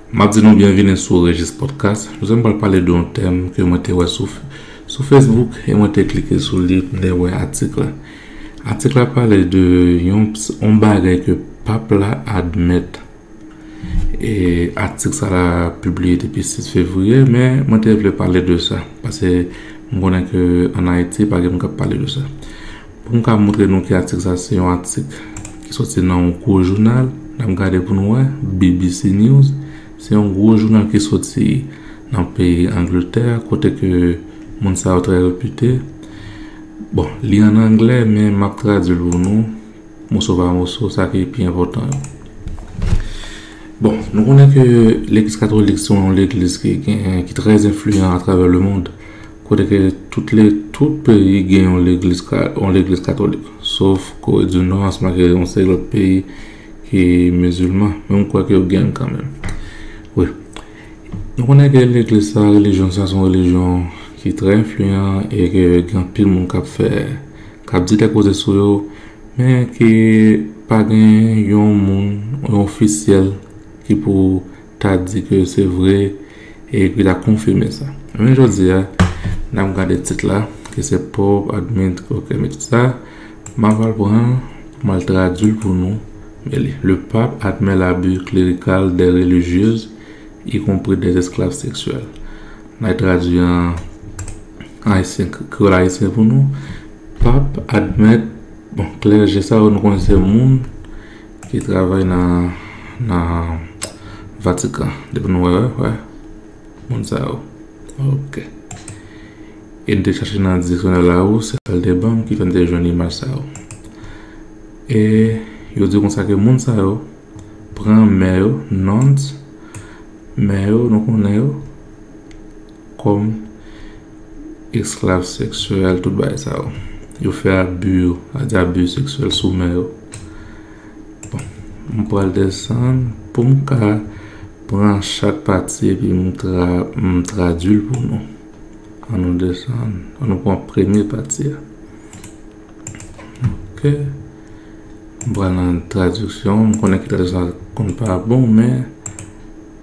Map di nou byenvini sou Rejis Podcast. Jodi a m pral pale de yon tèm ke mwen te wè sou Facebook e mwen te klike sou li lè m wè atik la. Atik la pale de yon bagay ke pap la admèt. E atik sa la pibliye depi 6 fevriye men mwen te vle pale de sa pase m konnen ke an Ayiti pa gen moun kap pale de sa. Pou m ka montre nou ki atik sa, se yon atik ki soti nan yon gwo jounal. N ap gade pou nou wè, BBC News. Se yon gwo jounal ki soti nan peyi Angletè, kote ke moun sa yo trè repite. Bon, li an anglè, men m ap tradui l pou nou, moso pa moso, sa ki pi enpòtan yo. Bon, nou konnen ke legliz katolik se yon legliz ki gen, ki trè enfliyan atravè lemond. Kote ke tout le, tout peyi gen yon legliz, yon legliz katolik. Sof Kore di Nò ansanm ak yon seri lòt peyi ki mizilman. Men m kwè ke yo gen kanmenm. Wi. Nou konnen ke legliz sa, relijyon sa, son relijyon ki trè enfliyan e ke gen anpil moun k ap fè, k ap di de koze sou yo. Men ke pa gen yon moun, yon ofisyèl ki pou ta di ke se vre e epi ta konfime sa. Men jodi a, n ap gade tit la ki se Pov Admint Ok men tit sa, m ap al pran pou m al tradui l pou nou. Men li, Le Pape admet l'abus clérical des religieuses, y compris des esclaves sexuels. M al tradui an ayisyen, kreyòl ayisyen pou nou. Pap admèt, bon, klèje sa yo nou konnen se moun Ki travay nan vatikan. Depi nou wè wè wè. Moun sa yo. Ok. E n te chache nan diksyonè la ou se sa l te ban m ki fè m te jwenn imaj sa yo. E yo di konsa ke moun sa yo pran mè yo, nuns, mè yo nou konnen yo. Kòm esklav seksyèl tout bagay sa yo. Yo fè abi yo, a di abi seksyèl sou mè yo. Bon, m pral desann pou m ka pran chak pati epi m tra m tradui l pou nou. An nou desann, an nou pran premye pati a. Ok. M pran nan tradiksyon, m konnen ki tradiksyon konn pa bon men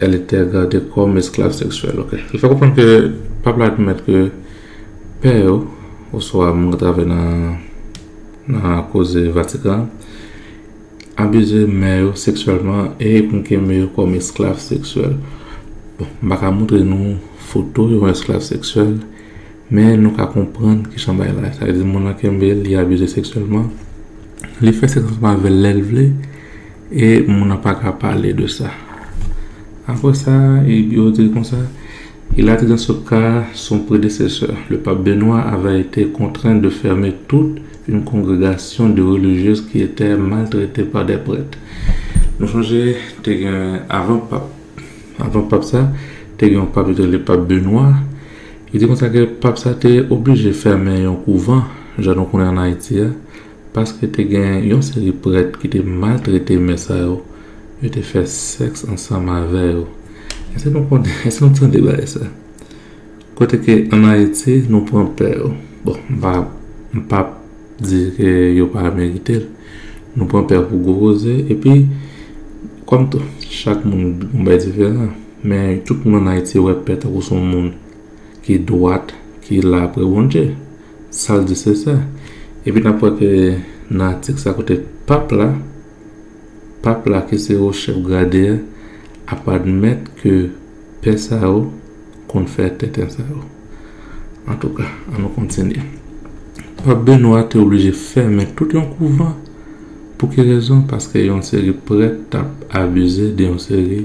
Elle était gardée comme esclave sexuelle. Ok. Li fè konprann ke pap la admèt ke pè yo, oswa moun ki travay nan nan koze Vatikan an, abize mè yo seksyèlman e konkeme yo kòm esklav seksyèl. Bon, m pa ka montre nou foto yon esklav seksyèl, men nou ka konprann ki jan bagay la ye. Sa vle di moun lan kenbe l, li abize seksyèlman. Li fè sèks ansanm avè l lè l vle e moun nan pa ka pale de sa. Apre sa, yo te konsa, il a dit dans ce cas son prédécesseur, le pape Benoît avait été contraint de fermer toute une congrégation de religieuses qui étaient maltraitées par des prêtres. Nou chonje te gen avan pap, avan pap sa, te gen yon pap yo te rele pap Benoît. Yo di konsa ke pap sa te oblije fèmen yon kouvan, jan nou konnen an Ayiti a. Paske te gen yon seri prèt ki te maltrete mè sa yo, yo te fè sèks ansanm avè yo. Èske nou konnen, èske nou tande bagay sa? Kote ke an Ayiti, nou pran pè yo. Bon, m pa, m pa di ke yo pa merite l. Nou pran pè pou gwo koze. Epi, kòm tou, chak moun gen bagay diferan. Men, tout moun an Ayiti wè pè tankou son moun ki dwat, ki la pre Bondye. Sa l di se sa. Epi n ap wè ke nan atik sa kote Pap la, Pap la ki se wo chèf grade a, ap admèt ke pè sa yo konn fè tenten sa yo. Antouka, an nou kontinye. Pap Benwa te oblije fèmen tout yon kouvan. Pou ki rezon? Paske yon seri prèt t ap abize de yon seri.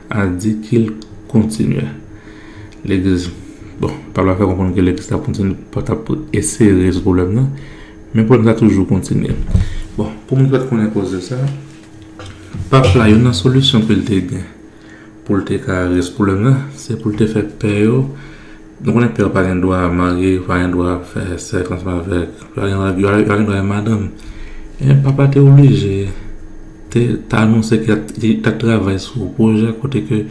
A di ki l kontinye. Legliz, bon, Pab la fè konprann ke Legliz t ap kontinye, pa t ap eseye rezoud pwoblèm nan, men pwoblèm nan toujou kontinye. Bon, pou moun ki pa t konnen koz de sa, Pap la, youn nan solisyon ke l te gen pou l te ka rezoud pwoblèm nan, se pou l te fè pè yo Nou konnen pè yo pa gen dwa marye, yo pa gen dwa fè sèks ansanm avèk, yo pa gen dwa, yo pa gen dwa gen madanm. Men papa te oblije te ta anonse ke li tap travay sou yon pwojè kote ke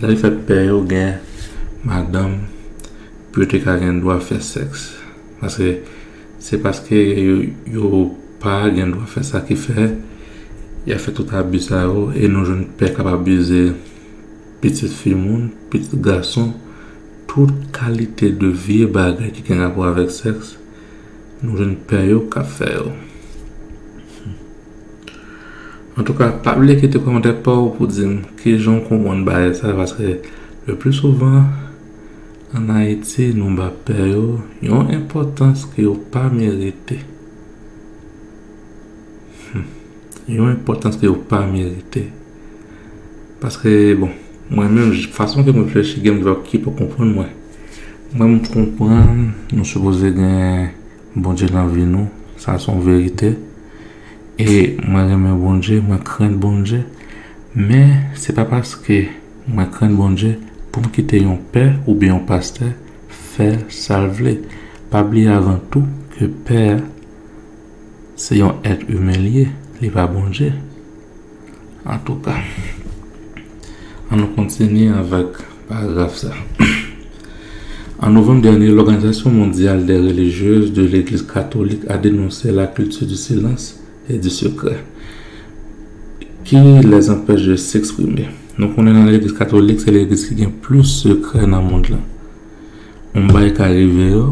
la li fè pè yo gen madanm pou yo te ka gen dwa fè sèks. Paske se paske yo pa gen dwa fè sa ki fè ya fè tout abi sa yo e nou jwenn pè kap abize. pitit fi moun, pitit gason, tout kalite de vye bagay ki gen rapò avèk sèks, nou jwenn pè yo k ap fè yo. Antouka, pa bliye kite kòmantè pa w pou di m kijan w konprann bagay sa paske le pli souvan an Ayiti nou ba pè yo yon enpòtans ke yo pa merite. Yon enpòtans ke yo pa merite. Paske bon, mwen menm fason ke mwen reflechi gen moun ki pa konprann mwen. Mwen m konprann nou sipoze gen Bondye nan vi nou, sa son verite. E mwen renmen Bondye, mwen krenn Bondye. Men, se pa paske mwen krenn Bondye pou m kite yon pè oubyen yon pastè fè sa l vle. Pa bliye avan tou ke pè a se yon èt imen li ye, li pa Bondye. Antouka, an nou kontinye avèk paragraf sa. An novanm dènye, Lòganizasyon Mondyal dè Relijyez de Legliz Katolik a denonse la kilti di silans e di sekrè ki lèz anpeche de seksprime. Nou konnen nan Legliz Katolik, se legliz ki gen plis sekrè nan mond lan. On bagay ka rive yo,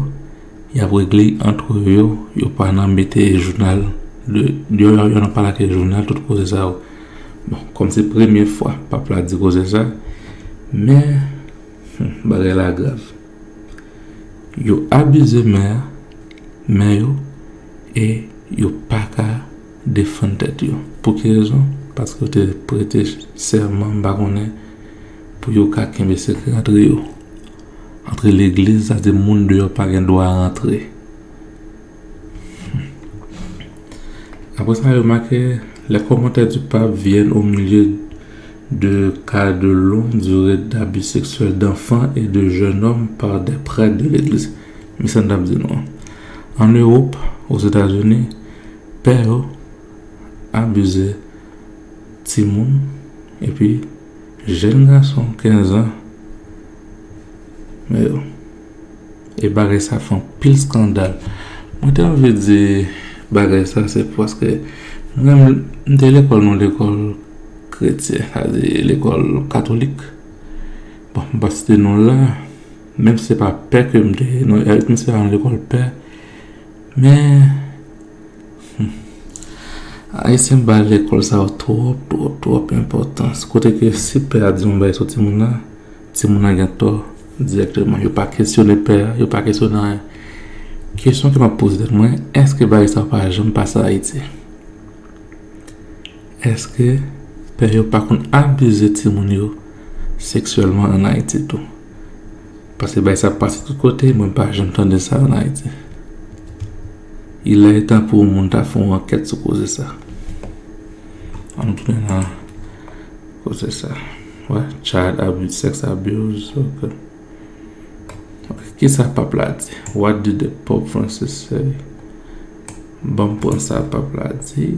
Yap regle antre yo yo pa nan mete jounal yo nan pale ak jounal tout koze sa yo bon kòm se premye fwa pap la di koze sa men bagay la grav yo abize mè a mè yo e yo pa ka defann tèt yo pou ki rezon paske yo te prete sèman m pa konnen pou yo ka kenbe sekrè antre yo Antre legliz sa di moun deyò pa gen dwa rantre. Apre sa yo make, le komantè di pap vyen o milye de ka de long dire dabi seksyèl danfan e de jènòm pa de prèt de legliz. Men sa n tap di nou an. An Ewop, o Zetazini, pè yo abize timoun epi Jèn gason 15 an mèyo e bagay sa fè anpil skandal mwen te anvi di bagay sa se paske mwen menm m te lekòl nan lekòl kretyen sa vle di lekòl katolik bon m pa site non l la menm si se pa pè ke m te non menm si se pa yon lekòl pè men Ayisyen bay lekòl sa yo twòp twòp twòp enpòtans kote ke si pè a di yon bagay sou timoun nan, timoun nan gen tò dirèkteman. Yo pa kesyone pè a, yo pa kesyone anyen. Kesyon ke map poze tèt mwen, èske bagay sa yo pa janm pase Ayiti? Èske pè yo pa konn abize timoun yo seksyèlman an Ayiti tou? Pase bay sa ap pase tout kote mwen pa janm tande sa an Ayiti. Ilè etan pou yon moun ta fè yon ankèt sou koze sa. An nou tounen nan koze sa. Wè, child abuse, sex abuse, ok. Ok, ki sa pap la di? What did the Pope Francis say? Banm pran sa pap la di,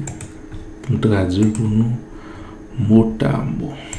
pou m tradui l pou nou mot a mot.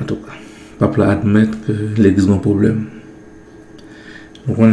Antouka, pap la admèt ke legliz gen yon pwoblèm. Nou konnen.